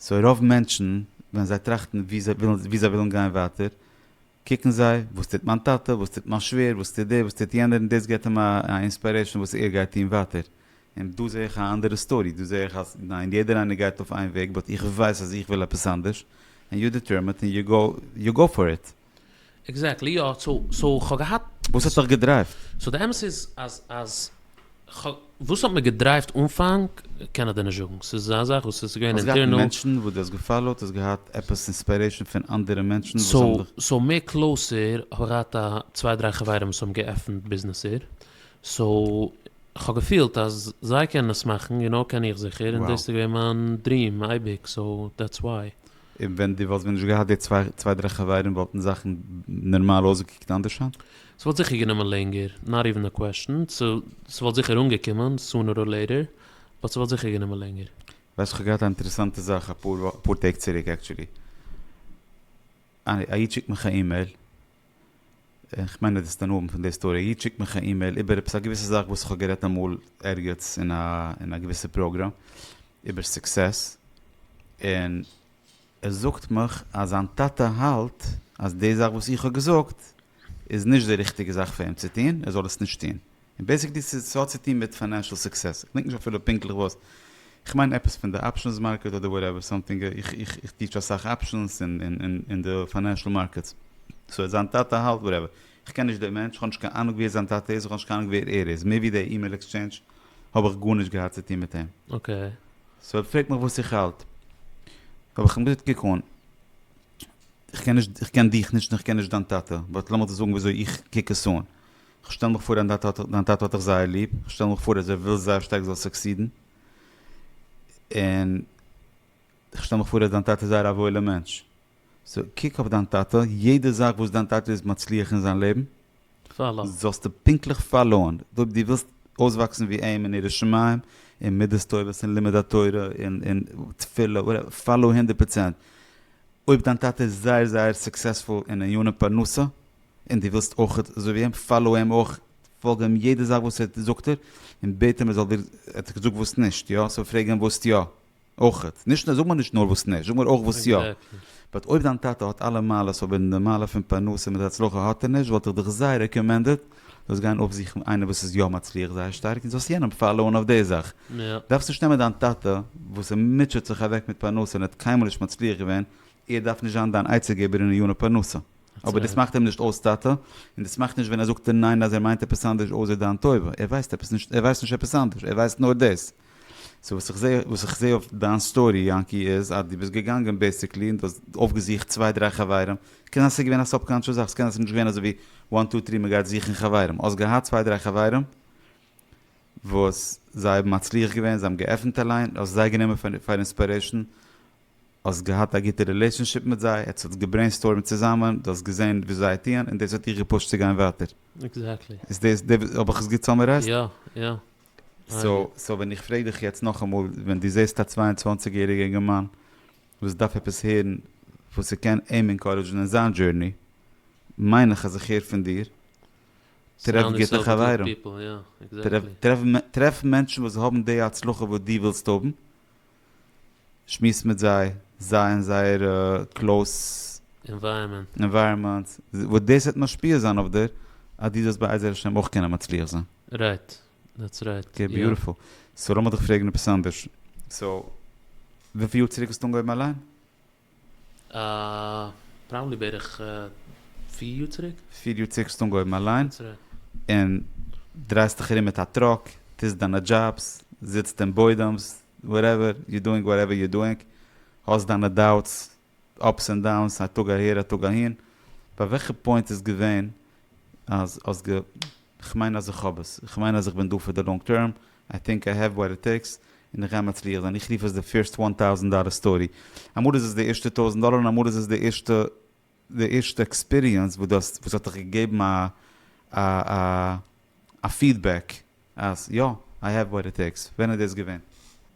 סאו רוב מענטשן ווען זיי טראכטן ווי זיי ווילן ווי זיי ווילן גיין ווייטער קוקן זיי וואס טוט מיין טאטע וואס טוט מיין שווער וואס טוט דער וואס טוט יענער און דאס געבט אים א אינספיירעישן וואס ער גייט טון ווייטער און דא זע איך א אנדערע סטארי דא זע איך אז ניין יעדער איינער גייט אויף איין וועג באט איך ווייס אז איך וויל עפעס אנדערש און יו דעטערמעט און יו גאו פאר איט. עקזעקטלי יא,
סאו סאו כ'האב געהאט. וואס האט דיך געדרייווט?
סאו די אמת איז
אז אז כ'הא וואס האט מיר געדרייווט אנפאנג קען איך דיר נישט זאגן ס'איז אזא זאך וואס איז געווען האסט געהאט אינטערנעל. מענטשן וואס דו
האסט געפאלאוט? האסט געהאט עפעס אינספירעישן פון אנדערע מענטשן וואס האבן סאו דיך. סאו מער
קלאוסער האב איך געהאט א צוויי דריי חברים וואס האבן געעפנט ביזנעסער סאו כ'האב געפילט אז זיי קענען עס מאכן גענוי קען איך זיכער און דאס וואו. איז געווען מיין דריעם אייביג סאו דעטס וואי. און ווען דו וואלסט ווען
נישט געהאט די צוויי דריי חברים וואלטן זאכן נערמאל אויסגעקוקט אנדערש היינט? ס'וואלט זיכער גענומען
לענגער, נאט איווען א קוועשן, ס'וואלט זיכער אנגעקומען, סונער אר לעיטער, באט ס'וואלט זיכער גענומען לענגער. ווייסט כ'האב געהאט א
אינטערעסאנטע זאך אפאר טעג צוריק עקטשולי, א איד שיקט מיך א אימעיל, איך מיין ער האט עס דערנאר פון די סטארי איד שיקט מיך א אימעיל איבער עפעס א געוויסע זאך וואס איך האב גערעדט אמאל ערגעץ אין א אין א געוויסע פראגראם איבער סוקסעס און ער זאגט מיך אז זיין טאטע האלט אז די זאך וואס איך האב געזאגט איז נישט די ריכטיגע זאך פאר אים צו טון ער זאל עס נישט טון. און בעיסיקלי ס'איז ס'האט צו טון מיט פיינענשעל סוקסעס, כ'דענק נישט אפילו פונקטליך וואס, כ'מיין עפעס פון די אפשענס מארקעט אדער וואטעווער סאמטינג, איך טיטש אסאך אפשענס און די פיינענשעל מארקעטס, סאו זיין טאטע האלט וואטעווער, כ'קען נישט די מענטש, כ'האב נישט קיין אנונג ווער זיין טאטע איז, און כ'האב נישט קיין אנונג ווער ער איז, מער ווי די אימעיל עקסטשעינדזש האב איך גארנישט געהאט צו טון מיט אים. אקעי.
סאו ער פרעגט מיך
וואס איך האלט, האב איך אים געזאגט קוק אן, איך קען נישט, איך קען דיך נישט און איך קען נישט דיין טאטע, באט לאמיר דיר זאגן ווי אזוי איך קוק עס אן, כ'שטעל מיך פאר אז דיין טאטע האט דיך זייער ליב, כ'שטעל מיך פאר אז ער וויל זייער שטארק זאלסט סוקסידן, און כ'שטעל מיך פאר אז דיין טאטע איז זייער א וואוילער מענטש, סאו קוק אויף דיין טאטע, יעדע זאך וואס דיין טאטע איז מצליח אין זיין לעבן, זאלסטו
פונקטליך
פאלאוען, אויב דו ווילסט אויסוואקסן ווי אים אין יראת שמים, אין מידות טובות, אין לימוד התורה, אין תפילה, וואטעווער, פאלאו הונדערט פראצענט, אויב דיין טאטע איז זייער זייער סוקסעספול אין ענייני פרנסה, און דו ווילסט אויך אזוי ווי אים, פאלאו אים אויך, פאלג אים יעדע זאך וואס ער זאגט ער, און בעט אים ער זאל דיר, ער האט דיר געזאגט וואס נישט, יא? סאו פרעג אים וואס יא, אויך, נישט זאג מיר נישט נאר וואס נישט, זאג מיר אויך וואס יא, באט אויב דיין טאטע האט אלע מעלות אבער די מעלה פון פרנסה מיט הצלחה האט ער נישט, וואלט איך דיך זייער רעקאמענדעד, זאלסט גיין אויפזוכן איינער וואס איז יא מצליח זייער שטארק און זאלסט יענעם פאלאון אויף די זאך, דארפסט נישט נעמען
דיין טאטע
וואס ער מוטשעט זיך אוועק מיט פרנסה און ער האט קיינמאל נישט מצליח געווען, ער דארף נישט זיין דיין עצה געבער אין עניני פרנסה. אבער דאס מאכט אים נישט אויס טאטע, און דאס מאכט נישט ווען ער זאגט דיר ניין אז ער מיינט עפעס אנדערש אויסער דיין טובה, ער ווייסט עפעס נישט, ער ווייסט נישט עפעס אנדערש, ער ווייסט נאר דאס. סאו וואס איך זע, וואס איך זע אויף דיין סטארי יענקי איז אז דו ביסט געגאנגען בעסיקלי און דו האסט אויפגעזוכט צוויי דריי חברים, קען זיין ס'געווען א סאבקאנטשעס זאך, ס'קען זיין ס'נישט געווען אזויווי וואן טו טרי מ'גייט זוכן חברים, האסט געהאט צוויי דריי חברים וואס זיי האבן מצליח געווען, זיי האבן געעפנט א ליין, האסט זיי גענומען פאר אינספירעישן, האסט געהאט א גוטע רילעישאנשיפ מיט זיי, עטס האט געברעינסטורמט צוזאמען, דו האסט געזען וואס זיי טוען און דאס האט דיך געפושט צו גיין ווייטער. עקזעקטלי. איז דאס
די, האב
איך עס גוט סאמערייזט? יא, יא.
סאו,
סאו ווען איך פרעג דיך יעצט נאכאמאל, ווען דו זעסט א צוויי און צוואַנציק יעריגע אינגערמאן וואס דארף עפעס הערן וואס ס'קען אים אינקארעדזשן אין זיין דזשורני, מיין איך אז איך הער פון דיר, טרעף גוטע חברים, טרעף מענטשן וואס האבן די הצלחה וואס דו ווילסט האבן, שמועסט מיט זיי, זיי אין זייערע קלאוס ענווייראמענטס, וואס דאס וועט משפיע זיין אויף דיר אז דו זאלסט בעזר השם אויך קענען מצליח זיין. רייט, דעטס רייט. אקעי, ביוטיפול. סאו לאמיר דיך
פרעגן
עפעס אנדערש. סאו, וויפיל יאר צוריק האסטו אנגעהויבן אליין?
פראבעבלי בערך פיר יאר צוריק. פיר יאר צוריק האסטו אנגעהויבן
אליין, און דרייסט דיך ארום מיט א טראק, טוסט דיינע דזשאבס, זיצט אין בוידעמס, וואטעווער, יו דואינג וואטעווער יו דואינג, האסט דיינע דאוטס, אפס און דאונס, א טאג אהער א טאג אהין, ביי וועלכע פוינט איז געווען אז האסט גע. כ'מיין אז איך האב עס, כ'מיין אז איך בין דא פאר די לאנג טערם, איי טינק איי העוו וואט איט טעיקס, און כ'גיי מצליח זיין, איך רוף עס די פירסט וואן טאוזענט דאלער סטארי, אמאל איז עס די ערשטע טויזענט דאלער און אמאל איז עס די ערשטע די ערשטע עקספיריענס וואס דו האסט וואס האט דיך געגעבן א א א א פידבעק אז יא, איי העוו וואט איט טעיקס, ווען איז דאס געווען?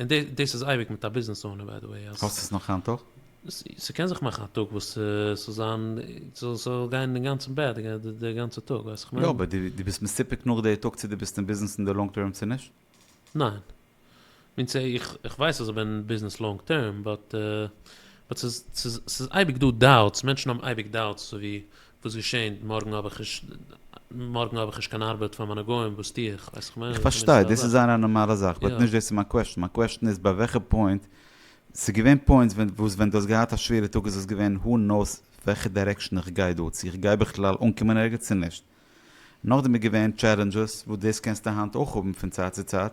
און דאס איז אייביג מיט א ביזנעס אונער ביי די וועי אז. האסט עס נאך היינט אויך?
ס'קען זיך מאכן
א טאג וואס ס'זאל זיין ס'זאל גיין אינגאנצן בעד די גאנצע טאג ווייסט איך מיין. יא אבער די ביסט מסופק
נאך די טאג צו די ביסט אין ביזנעס אין די לאנג טערם צו נישט? ניין.
מינס איך ווייס אז איך בין אין ביזנעס לאנג טערם באט באט ס'איז ס'איז אייביג דא דאוטס מענטשן האבן אייביג דאוטס אזוי ווי וואס געשענט? מארגן האב איך נישט מארגן האב איך נישט קיין ארבעט פאר מיינע גוים, וואס טו איך? ווייס איך איך פארשטיי, דאס איז זייער א
נארמאלע זאך, באט נישט דאס איז מיין קוועשן, מיין קוועשן איז ביי וועלכע פוינט, ס'איז געווען פוינטס ווען וואס ווען דו האסט געהאט א שווערע טאג איז עס געווען הו נאוס וועלכע דירעקשן איך גיי דא, צו איך גיי בכלל אנקומען ערגעץ צו נישט. נאכדעם איז געווען טשעלענדזשעס, וואס דאס קענסטו היינט אויך האבן פון צייט צו צייט,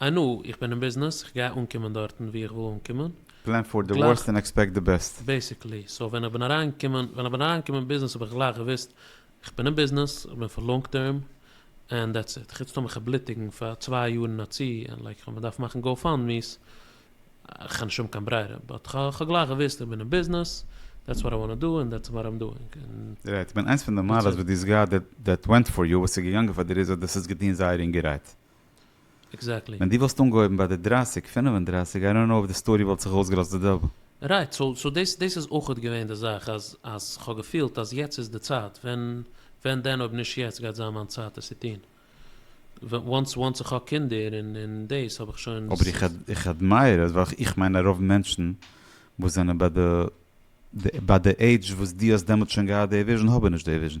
איי נאו, איך בין אין ביזנעס, איך גיי אנקומען דארטן וואו איך וויל אנקומען. פלען פאר די ווארסט
און עקספעקט די בעסט. בעיסיקלי. סאו ווען איך
בין אריינגעקומען, ווען איך בין אריינגעקומען אין ביזנעס האב איך גלייך געוואוסט, איך בין אין ביזנעס, איך בין פאר לאנג טערם, ענד דעטס איט. חוץ טאמער כ'וועל בלוטיגן פאר צוויי יאר אין א צי, און לייק כ'וועל מיר דארפן מאכן גאו פאנד מי'ס, כ'האב נישט האבן קיין ברירה. באט כ'האב גלייך געוואוסט איך בין אין ביזנעס, דעטס וואט איי וואנט טו דו ענד דעטס וואט איים דואינג, און. רייט, כ'בין
איינס פון די מעלות וואס דו האסט געהאט, דעט ווענט פאר יו, וואס איז געגאנגען פאר דיר איז אז דאס האסט געטון זייער אינגערהייט.
עקזעקטלי. ווען דו וואלסט אנגעהויבן
ביי די דרייסיג פינף און דרייסיג איי דאנט נאו אויב די סטארי וואלט זיך אויסגעלאזט די זעלבע. רייט, סאו סאו
דאס דאס איז אויכעט געווען די זאך אז אז כ'האב געפילט אז יעצט איז די צייט, ווען ווען דען אויב נישט יעצט גייט זיין מיין צייט עס צו טון, וואנס וואנס איך האב קינדער און און דאס האב איך שוין. אבער איך איך
אדמייער עס ווייל איך מיין אז רוב מענטשן וואס זענען ביי די ביי די עידזש וואס דו האסט דעמאלטס שוין געהאט די וויזשן האבן נישט די וויזשן.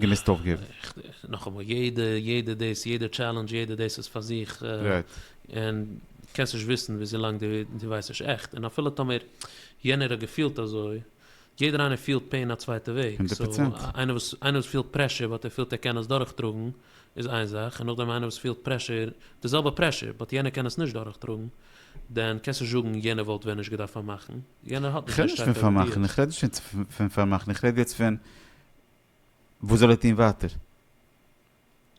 געמוזט אויפגעבן. נאכאמאל,
יעדע יעדע דאס יעדע טשעלענדזש יעדע דאס איז פאר זיך,
און
קענסט נישט וויסן וויזילאנג דו ווייסט נישט עכט, און אפילו טאמער יענער האט געפילט אזוי, יעדער איינער פילט פעין א צווייטע וועג, סאו איינער וואס
איינער
וואס פילט פרעשור באט ער פילט ער קען עס דורכטראגן איז איין זאך, און נאכדעם איינער וואס פילט פרעשור די זעלבע פרעשור באט יענער קען עס נישט דורכטראגן, דען קענסטו זאגן יענער וואלט ווען נישט געדארפט פארמאכן, יענער האט נישט קיין שטארקע ראיות. איך
רעד נישט פון פארמאכן, איך רעד יעצט פון וואס זאל ער טוהן ווייטער?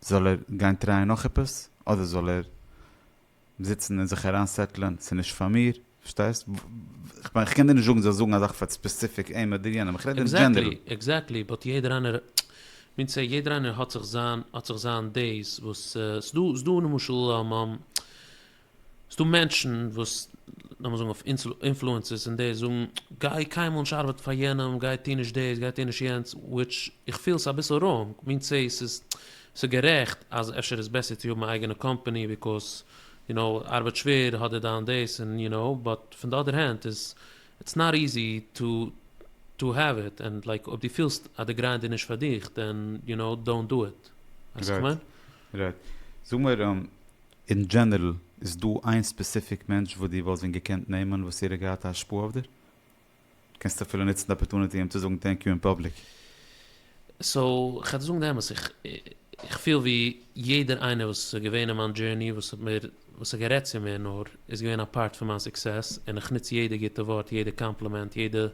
זאל ער גיין טרייען נאך עפעס? אדער זאל ער זיצן און זיך אריין סעטלען, ס'איז נישט פאר מיר, פארשטייסט? כ'מיין איך קען דיר נישט זאגן זאלסט זאגן א זאך פאר ספעסיפיק אים אדער יענעם, איך רעד אין דזשענערל. עקזעקטלי, באט יעדער
איינער, מין סעי יעדער איינער האט זיך זיין האט זיך זיין דעיס וואס ס'דא ס'דא למשל ס'איז דא מענטשן וואס לאמיר זאגן אויף אינפלוענסערס און די זאגן גיי קיינמאל נישט ארבעטן פאר יענעם גיי טוה נישט דאס גיי טוה נישט יענץ וויטש איך פיל ס'איז אביסל ראנג מין צי ס'איז ס'איז גערעכט אז אפשר איז בעסער צו האבן א אייגענע קאמפאני ביקאוז יו נאו ארבעט שווער האט דער דיין דאס און יו נאו באט פון די אדער הענד איז איטס נאט איזי טו טו העוו איט און לייק אויב דו פילסט אז די גריינד איז נישט פאר דיך דען יו נאו דאונט דא
איט
ווייסט וואס איך מיין? רייט רייט זאג
מיר
אין
דזשענערל איז דא איין ספעסיפיק מענטש וואס דו וואלסט ווען געקענט נעמען וואס ער האט געהאט א השפעה אויף דיר? קענסט אפילו נוצן די אפערטוניטי אים צו זאגן טענק יו אין פאבליק.
סאו כ'וועל דיר זאגן די אמת, איך פיל ווי יעדער איינער וואס איז געווען אין מיין דזשערני וואס האט מיר וואס האט גערעדט צו מיר נאר איז געווען א פארט פון מיין סוקסעס און איך נוץ יעדע גוטע ווארט יעדע קאמפלימענט יעדע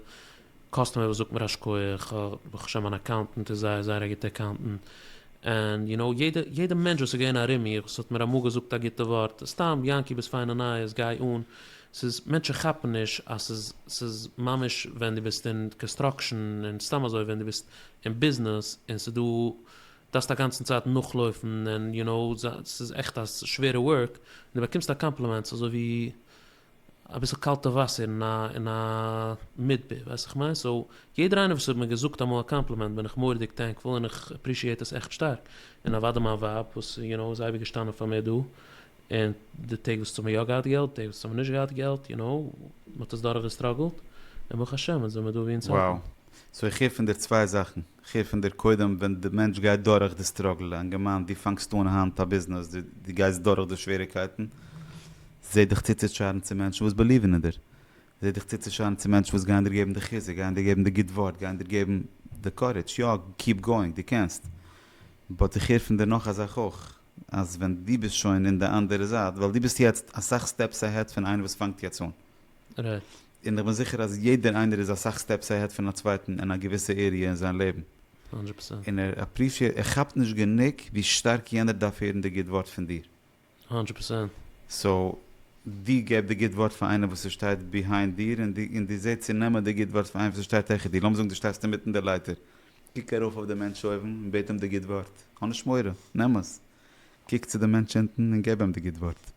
קאסטומער וואס זאגט מיר א שכח, ברוך השם מיין אקאונטענט איז זייער זייער א גוטע אקאונטענט, ענד יו נאו יעדע יעדע מענטש וואס איז געווען ארום מיר וואס האט מיר אמאל געזאגט א גוטע ווארט, סתם יענקי ביסט פיינע נייעס גיי אן, ס'איז מענטשן כאפן נישט אז ס'איז ס'איז ממש ווען דו ביסט אין קאנסטראקשען און סתם אזוי ווען דו ביסט אין ביזנעס און ס'איז דא דארפסט אגאנצן צייט נאכלויפן און יו נאו ס'איז עכט א שווערע ווארק און דו באקומסט א קאמפלימענטס אזוי ווי אביסל קאלטע וואסער אין א אין א מדבר ווייסט איך מיין סאו יעדער איינער וואס האט מיר געזאגט אמאל א קאמפלימענט בין איך מוראדיג טענקפול און איך עפרישיעט עס עכט שטארק און אוודאי מיין ווייב וואס יו נאו איז אייביג געשטאנען פאר מיר דא און די טעג וואס ס'האמיר יא געהאט געלט די טעג וואס האמיר נישט געהאט געלט יו נאו מ'האט עס דורך געסטראגעלט און ברוך השם אונז זעמיר דא ווי אונז האלטן. Wow. סאו איך
הער פון דיר צוויי זאכן. כ'הער פון דיר קודם ווען די מענטש גייט דורך די סטראגל, א אינגערמאן דו פאנגסט אן היינט א ביזנעס, דו גייסט דורך די שוועריקייטן, זע דיך צוצושארן צו מענטשן וואס בעליווען אין דיר, זע דיך צוצושארן צו מענטשן וואס גייען דיר געבן די חיזוק, גייען דיר געבן די גוט ווארט, גייען דיר געבן די קארעדזש, יא קיעפ גאוינג דו קענסט, באט איך הער פון דיר נאך א זאך אויך, אז ווען דו ביסט שוין אין די אנדערע זייט, ווייל דו ביסט יעצט אסאך סטעפס אהעד פון איינער וואס פאנגט יעצט אן. ר'.
און איך בין זיכער
אז יעדער איינער איז אסאך סטעפס אהעד פון א צווייטן אין א געוויסע עריע אין זיין לעבן. הונדרעט
פערסענט. און ער עפרישיעט ער
כאפט נישט גענוג ווי שטארק יענער דארף הערן די גוט ווארט פון דיר. הונדרעט פערסענט.
סאו,
דו געב די גוט ווארט פאר איינער וואס עס שטייט ביהיינד דיר און דו און דו זע צו נעמען די גוט ווארט פון איינעם וואס עס שטייט העכער דיר. לאמיר זאגן דו שטייסט אינמיטן די לייטער. קוק ארויף אויף די מענטש אויבן און בעט אים די גוט ווארט. האב נישט מורא. נעם עס. קוק צו די מענטש אונטן און געב אים די גוט ווארט.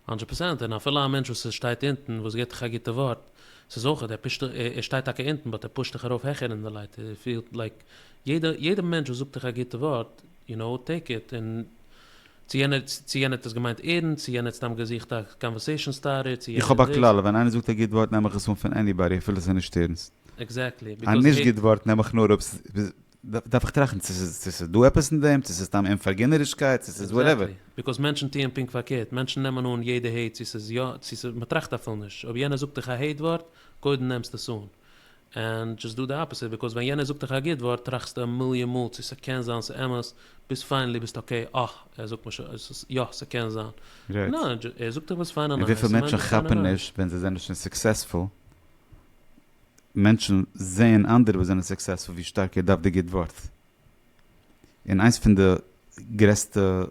הונדרעט פראצענט,
און אפילו א מענטש וואס איז שטייט אונטן וואס געט דיך א גוטע ווארט, ס'איז אויך ער פושט דיך, ער שטייט טאקע אונטן באט ער פושט דיך ארויף העכער אין די לייטער, ער פילט לייק יעדע יעדע מענטש וואס זאגט דיך א גוטע ווארט, יו נאו, טעיק איט, און צו יענער צו יענער האט עס געמיינט ערנסט, צו יענער האט סתם געזוכט א קאנווערסעישאן סטארטער, צו איך יענער האב א דאס. כלל, ווען
איינער זאגט א גוט ווארט נעם איך עס אן פון עניבאדי אפילו ס'איז נישט ערנסט. עקזעקטלי, א ביזקאוז
נישט גוט ווארט
נעם איך נאר אויב דארף איך טראכטן צו ס'איז דא עפעס אין דעם, צו ס'איז סתם אומפארגינערישקייט, צו ס'איז וואטעווער. עקזעקטלי, ביקאוז מענטשן טוען
פונקט פארקערט, מענטשן נעמען אן יעדע העיט צו ס'איז יא צו ס'איז מ'טראכט אפילו נישט, אויב יענער זאגט דיך א העיט ווארט, קודם נעמסטו עס אן, ענד דזשאסט דא די אפעסיט, ביקאוז ווען יענער זאגט דיך א גוט ווארט טראכסטו א מיליאן מאל צו ס'קען זיין ס'איז אמת, ביז פיינעלי ביסטו אקעי אה ער זאגט מיר שוין עס יא ס'קען זיין, רייט. נא ער זאגט דיך וואס פיין און און נייס, וויפיל מענטשן כאפן
נישט ווען זיי זענען שוין סוקסעספול מענטשן זעען אנדערע וואס זענען סוקסעספול ווי שטארק איר דארפט די גוט ווארט. און איינס פון די גרעסטע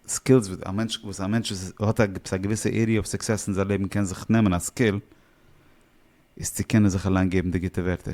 סקילס וואס א מענטש וואס א מענטש וואס האט א א געוויסע עריע אוו סוקסעס אין זיין לעבן קען זיך נעמען א סקיל איז צו קענען זיך אליין געבן די גוטע ווערטער.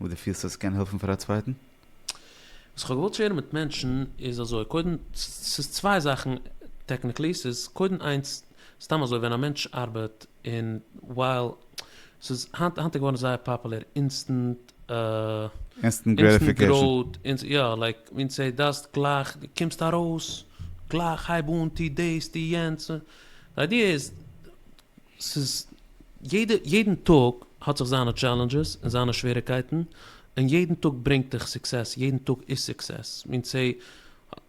וואס דו פילסט אז ס'קען העלפן פאר א צווייטן? וואס
כ'האב געוואלט שערן מיט מענטשן איז אזוי, קודם, ס'איז צוויי זאכן טעקניקלי, ס'איז קודם איינס, סתם אזוי ווען א מענטש ארבעט און ווייל ס'איז היינט איז געווארן זייער פאפולער אינסטענט, אינסטענט
גרעטיפיקעישן, יא, לייק
מין סעי דאסט גלייך קומסט ארויס, גלייך הייב אן, טו דאס, טו יענץ, די איידיע איז, ס'איז יעדע יעדן טאג האט זיך זיינע טשעלענדזשעס און זיינע שוועריקייטן, און יעדן טאג ברענגט דיך סוקסעס, יעדן טאג איז סוקסעס, מין צ ע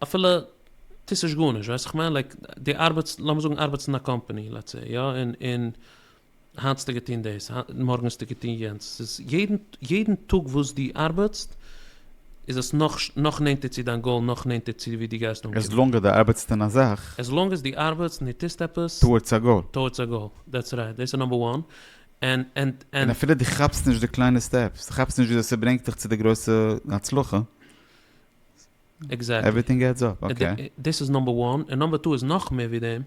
אפילו טוסט נישט גארנישט, ווייסט איך מיין לייק די ארבעטסט לאמיר זאגן ארבעטסט אין א קאמפאני לעטס סעי יא, און און היינט האסטו געטון דאס, מארגן האסטו געטון יענץ, ס'איז יעדן יעדן טאג וואס דו ארבעטסט איז עס נאך נאך נענטער צו דיין גאול נאך נענטער צו ווי דו גייסט עז אנקומען. לאנג אז דו ארבעטסט אין א
זאך. עז לאנג אז דו ארבעטסט
און דו טוסט עפעס. טאוערדס א גאול. טאוערדס
א גאול, דעטס
רייט, דאס איז נאמבער וואן, ענד ענד ענד. און אפילו דו
כאפסט נישט די קליינע סטעפס, דו כאפסט נישט וויאזוי ס'ברענגט דיך צו די גרויסע הצלחה. עקזעקטלי. עווריטינג עדס אפ, אקעי. דאס איז נאמבער
וואן,
און
נאמבער טו איז נאך מער ווי דעם,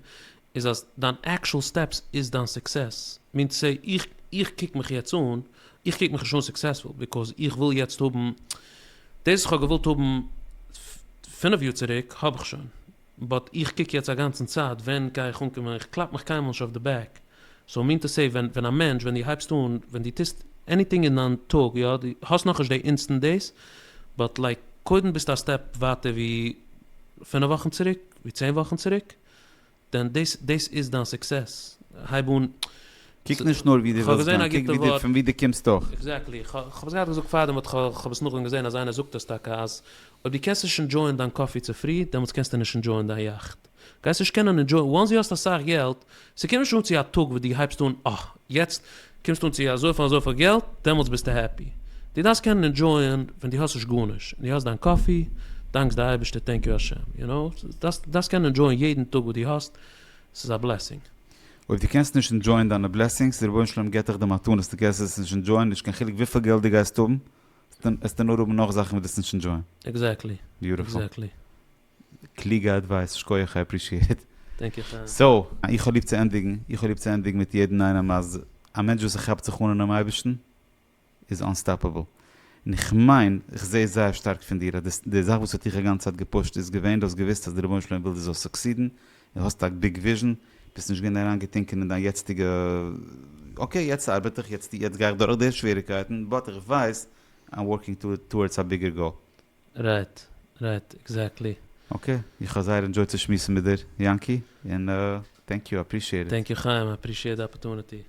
איז אז דיין עקשאל סטעפס איז דיין סוקסעס, מינס סאו איך איך קוק מיך יעצט אן, איך קוק מיך נישט אן סוקסעספול ביקאוז איך וויל יעצט האבן דאס וואס כ'האב געוואלט האבן פינף יאר צוריק האב איך שוין, באט איך קוק יעצט א גאנצן צייט ווען גיי איך אנקומען, איך קלאפ מיך קיינמאל נישט אויף די בעק, סאו מינס טו סעי ווען ווען א מענטש ווען דו הייבסט אן ווען דו טוסט עניטינג אין דיין טאג יא דו האסט נאכנישט די אינסטענט דאס באט לייק קודם ביסטו א סטעפ ווייטער ווי פינף וואכן צוריק ווי צען וואכן צוריק. דען דאס דאס איז דיין סוקסעס. הייב אן. קוק נישט
נאר ווי דו ווילסט גיין, קוק ווי דו פון ווי דו קומסט אויך. עקזעקטלי. איך האב עס געהאט
געזאגט פארדעם באט כ'האב עס נאכדעם געזען אז איינער זאגט עס טאקע אז אויב דו קענסט נישט ענדשויען דיין קאפי צופרי דעמאלטס קענסטו נישט ענדשויען דיין יאכט. גייסט נישט קענען ענדשויען וואנס דו האסט אסאך געלט. ס'קומט נישט אן צו א טאג וואס דו הייבסט אן אה יעצט קומסטו אן צו אזויפיל אזויפיל געלט, דעמאלטס ביסטו העפי. דו דארפסט קענען ענדשויען ווען דו האסט נישט גארנישט, און דו האסט דיין קאפי, דאנקסט די אייבערשטער טענק יו השם, יו נאו, דארפסט דארפסט קענען ענדשויען יעדן טאג וואס דו האסט, ס'איז א בלעסינג. אויב דו קענסט
נישט ענדשויען דיינע בלעסינגס, די רבונו של עולם געט דיך די מתנות, דו קענסט עס נישט ענדשויען, נישט קיין חילוק וויפיל געלט דו גייסט האבן, עסטו נאר האבן נאך זאכן וואס דו וועסט נישט ענדשויען. עקזעקטלי,
עקזעקטלי. קלוגע
עדווייס, שקויעך איי עפרישיעט. דענק איך א. סאו,
איך האב ליב
צו ענדיגן, איך האב ליב צו ענדיגן מיט יעדן איינעם אז א מענטש וואס כאפט זיך אן אינעם אייבערשטן איז אנסטאפעבל. און איך מיין, איך זע עס זייער שטארק פון דיר, אז די זאך וואס האט דיך אגאנץ צייט געפושט איז געווען, דו האסט געוואוסט אז די רבונו של עולם וויל דו זאלסט סוקסידן, דו האסט א ביג וויזשן, ביסט נישט געווען אריינגעטונקען אין דיין יעצטיגע אקעי יעצט ארבעט איך, יעצט גיי איך דורך די שוועריקייטן, באט איך ווייס I'm working towards a bigger goal. רייט,
רייט, עקזעקטלי. אקעי,
איך האב זייער ענדזשויט צו שמועסן מיט דיר, יענקי, און טענק יו,
אפרישיעט
איט. טענק יו
חיים,
איי
אפרישיעט
די אפערטוניטי.